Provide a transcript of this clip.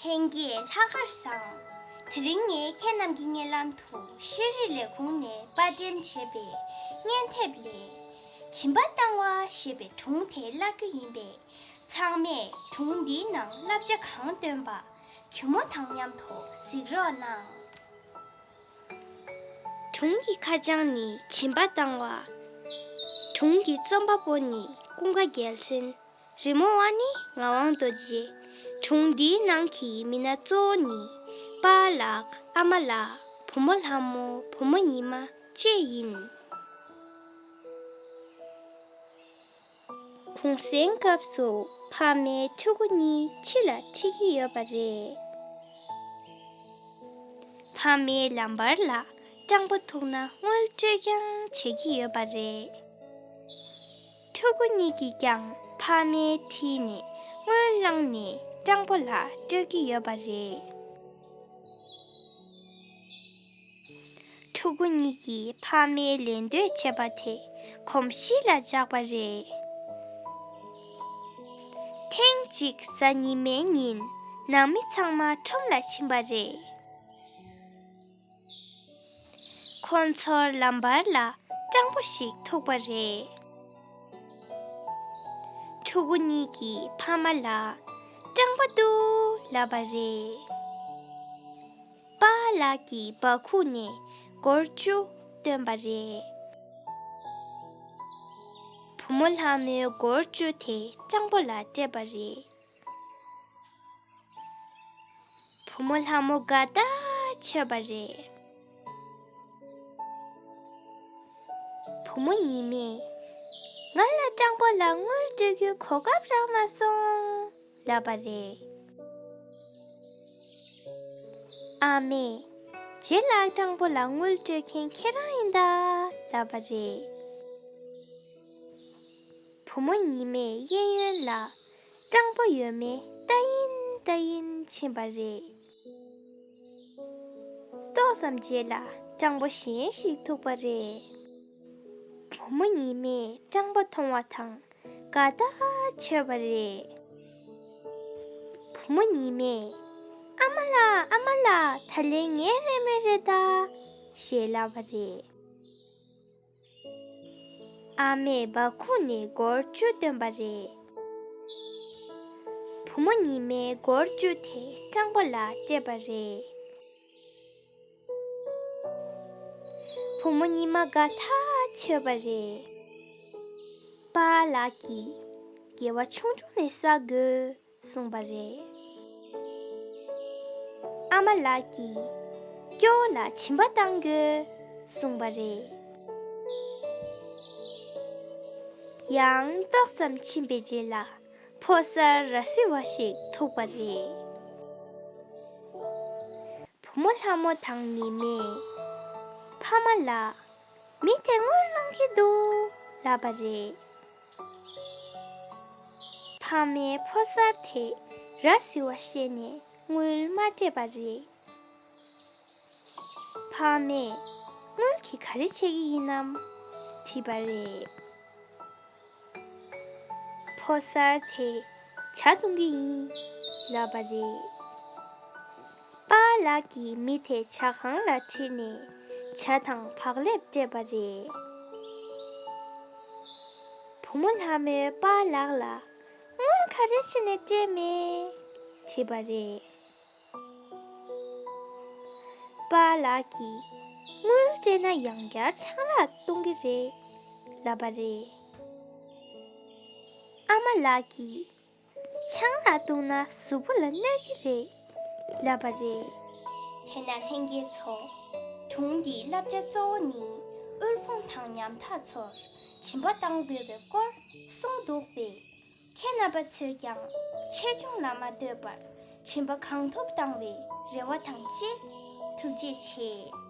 ལྷན་རྒྱས་ལྷག་དཀར་བཟང། དེ་རིང་ངས་ཁྱེད་རྣམས་ཀྱི་སྙན་ལམ་དུ་ཤེས་རིག་ལས་ཁུངས་ནས་དཔར་འགྲེམ་བྱས་པའི་སྙན་དེབ་ལས། བྱིན་པ་བཏང་བ་ཞེས་པའི་སྒྲུང་དེ་བཀླག་རྒྱུ་ཡིན་པས། ཚང་མས་སྒྲུང་འདིའི་ནང་བསླབ་བྱ་གང་བཏོན་པ་གུས་མོ་དང་མཉམ་དུ་གཟིགས་རོགས་གནང། དུང་གི་ཁ་བྱང་ནི་བྱིན་པ་བཏང་བ། དུང་གི་རྩོམ་པ་པོ་ནི་ཀུན་དགའ་རྒྱལ་མཚན། རི་མོ་བ་ནི་ངག་དབང་རྡོ་རྗེ། དྲུང་འདིའི་ནང་གི་མི་སྣ་གཙོ་བོ་ནི། པ་ལགས་ཨ་མ་ལགས་བུ་མོ་ལྷ་མོ་བུ་མོ་ཉི་མ་བཅས་ཡིན། གུང་གསེང་སྐབས་སུ་ཕ་མའི་ཕྲུ་གུ་གཉིས་ཕྱི་ལ་འཁྲིད་ཀྱི་ཡོད་པ་རེད། ཕ་མའི་ལམ་བར་ལ་སྤྲང་པོ་ཐུག་ན་དངུལ་སྤྲོད་རྐྱང་བྱེད་ཀྱི་ཡོད་པ་རེད། ཕྲུ་གུ་གཉིས་ཀྱིས་ཀྱང་ཕ་མའི་འཁྲིས་ནས་དངུལ་བླངས་ནས་སྤྲང་པོ་ལ་སྤྲོད་ཀྱི་ཡོད་པ་རེད། ཕྲུ་གུ་གཉིས་ཀྱིས་ཕ་མའི་ལས་འདོད་བྱས་པ་དེ་གོམས་གཤིས་ལ་འཇགས་པ་རེད། ཐེངས་གཅིག་གཟའ་ཉི་མའི་ཉིན་ནང་མི་ཚང་མ་ཁྲོམ་ལ་ཕྱིན་པ་རེད། ཁོ་ཚོར་ལམ་བར་ལ་སྤྲང་པོ་ཞིག་ཐུག་པ་རེད། ཕྲུ་གུ་གཉིས་ཀྱིས་ཕ་མ་ལ་སྤྲང་པོ་འདུག་ལབ་པ་རེད། པཱ་ལགས་ཀྱི་འབག་ཁུག་ནས་སྒོར་བཅུ་བཏོན་པ་རེད། བུ་མོ་ལྷ་མོའི་སྒོར་བཅུ་དེ་སྤྱང་པོ་ལ་སྤྲད་པ་རེད། བུ་མོ་ལྷ་མོ་དགའ་དག་ཆོད་པ་རེད། བུ་མོ་ཉི་མས། ང་ལ་སྤྱང་པོ་ལ་དངུལ་སྤྲོད་རྒྱུའི་གོ་སྐབས་རག་མ་སོང། བསླབ་པ་རེད། ཨ་མས། རྗེ་ལགས་སྤྲང་པོ་ལ་དངུལ་སྤྲོད་མཁན་ཁྱེད་རང་ཡིན་ད། བསླབ་པ་རེད། བུ་མོ་ཉི་མས་གཡས་གཡོན་ལ། སྤྲང་པོ་ཡོད་མེད་ལྟ་ཡིན་ལྟ་ཡིན་ཕྱིན་པ་རེད། ཏོག་ཙམ་རྗེས་ལ་སྤྲང་པོ་གཞན་ཞིག་ཐུག་པ་རེད། བུ་མོ་ཉི་མས་སྤྲང་པོ་མཐོང་བ་དང་དགའ་ཐག་ཆོད་པ་རེད། བུ་མོ་ཉི་མས། ཨ་མ་ལགས་ཨ་མ་ལགས་ད་ལན་ངའི་རེ་སྨོན་རེ་ད། ཞེས་ལབ་པ་རེད། ཨ་མས་སྦ་ཁུག་ནས་སྒོར་བཅུ་བཏོན་པ་རེད། བུ་མོ་ཉི་མས་སྒོར་བཅུ་དེ་སྤྲང་པོ་ལ་སྤྲད་པ་རེད། བུ་མོ་ཉི་མ་དགའ་ཐག་ཆོད་པ་རེད། པཱ་ལགས་ཀྱིས། དགེ་བ་ཆུང་ཆུང་ནས་བསགས་དགོས། གསུངས་པ་རེད། ཨ་མ་ལགས་ཀྱིས་སྐྱོ་བོ་ལ་བྱིན་པ་བཏང་དགོས་གསུངས་པ་རེད། ཡང་ཏོག་ཙམ་ཕྱིན་པའི་རྗེས་ལ་ཕོ་གསར་ར་བཟི་བ་ཞིག་ཐུག་པ་རེད། བུ་མོ་ལྷ་མོ་དང་ནི་མས་ཕ་མ་ལ། མི་དེ་དངུལ་སློང་གི་འདུག་ལབ་པ་རེད། ཕག་མའི་ཕོ་གསར་དེས་ར་བཟི་བ་ཤེས་ནས་དངུལ་མ་སྤྲད་པ་རེད། ཕག་མས། དངུལ་གྱིས་ག་རེ་བྱེད་ཀྱི་ཡིན་ནམ། དྲིས་པ་རེད། ཕོ་གསར་དེས་བྱ་གཏོང་གི་ཡིན། ལབ་པ་རེད། པ་ལགས་ཀྱིས་མི་དེ་བྱ་ཁང་ལ་ཁྲིད་ནས་བྱ་དང་བག་ལེབ་སྤྲད་པ་རེད། བུ་མོ་ལྷ་མོས་པ་ལགས་ལ། སྔོན་ག་རེ་བྱས་ནས་སྤྲད་མེད། དྲིས་པ་རེད། པ་ལགས་ཀྱིས། དངུལ་སྤྲད་ན་ཡང་བསྐྱར་ཆང་རག་གཏོང་གི་རེད། ལབ་པ་རེད། ཨ་མ་ལགས་ཀྱིས། ཆང་ལ་བཏུང་ན་གཟུགས་པོ་ལ་གནོད་ཀྱི་རེད་ལབ་པ་རེད། དེས་ན་ལྷན་རྒྱས་ཚོ། དྲུང་འདིའི་བསླབ་བྱ་གཙོ་བོ་ནི་དབུལ་ཕོངས་དང་ཉམ་ཐག་ཚོར་བྱིན་པ་གཏང་དགོས་པའི་སྐོར་གསུངས་འདུག་པས། ཁྱེད་རྣམ་པ་ཚོས་ཀྱང་ཆེ་ཆུང་ལ་མ་ལྟོས་པར་བྱིན་པ་གང་ཐུབ་གཏང་བའི་རེ་བ་དང་བཅས་ཐུགས་རྗེ་ཆེ།